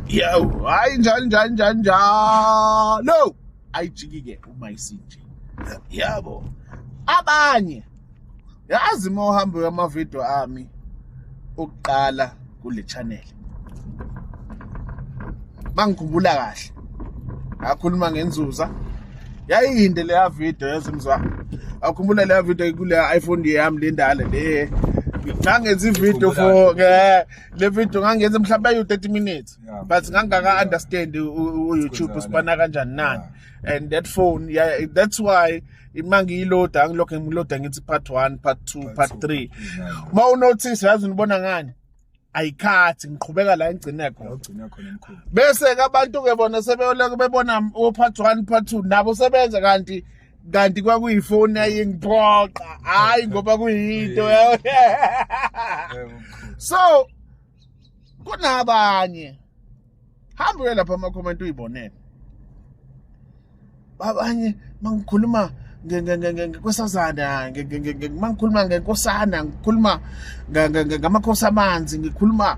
Yo, hayi njani njani njani njalo. Ayijiki ke uma isinje. Yabo. Abanye yazi uma uhamba amavideo ami okuqala kule channel bangikhumbula kahle akhuluma ngenzuza yayinde leya video yazimzwa akhumbula leya video kule iPhone yami lendala le ngangenza ivideo for eh, le video ngangenza mhlawumbe ayu 30 minutes but ngangaka understand u YouTube usibana kanjani nani and that phone yeah that's why uma ngiyiloda angilokhu ngiloda ngithi part one part two part three uma unothisi yazi unibona ngani ayikhathi ngiqhubeka la engcine khona bese ke abantu ke bona sebeyoleke bebona o-part one part two nabo sebenza kanti kanti kwakuyifoni ayingiphoqa hayi ngoba kuyinto so kunabanye hamba uye lapha ama-comment uyibonele abanye mangikhuluma kwesazana mangikhuluma ngenkosana ngikhuluma ngamakhosi amanzi ngikhuluma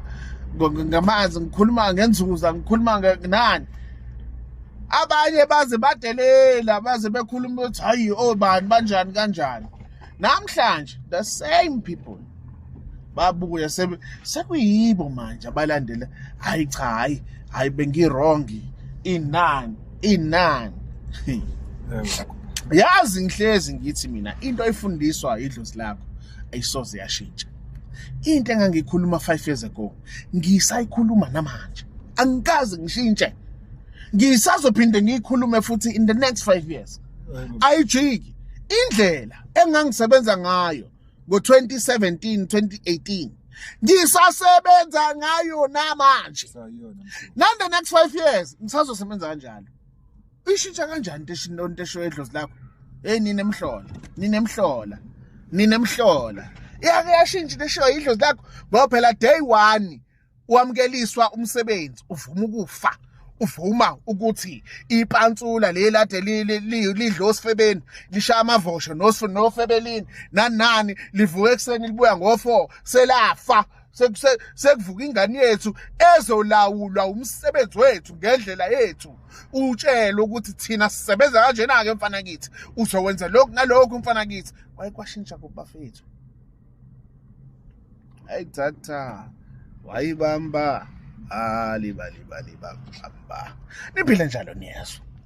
ngamanzi ngikhuluma ngenzuza ngikhuluma nani abanye baze badelela baze bekhuluma ukuthi hayi obani oh, banjani kanjani namhlanje the same people babuya sekuyibo manje abalandela hayi cha hayi hayi bengirongi inani inani yazi ngihlezi ngithi mina into ayifundiswa idlozi lakho ayisoze yashintsha into engangikhuluma 5 years ago ngisayikhuluma namanje angikaze ngishintshe ngisazophinde ngiyikhulume futhi in the next 5 years ayijiki indlela engangisebenza ngayo ngo-2017 2018 ngisasebenza ngayo namanje nande next five years ngisazosebenza kanjalo ishintsha kanjani into esho edlozi lakho eyi ninemhlola ninemhlola ninemhlola yake yashintsha into eshiwo yidlozi lakho ngoba phela day one wamkeliswa umsebenzi uvuma ukufa uvuma ukuthi ipantsula lelade lidla osifebeni lishaya amavosho nofebelini nanani livuka ekuseni libuya ngofo selafa sekuvuka ingane yethu ezolawulwa umsebenzi wethu ngendlela yethu utshele ukuthi thina sisebenza kanjena-ke mfana kithi uzowenza lokhu nalokhu mfana kithi wayekwashintsha kubafethu hayi thatha wayibamba alibalibalibamba niphile njalo niyezwa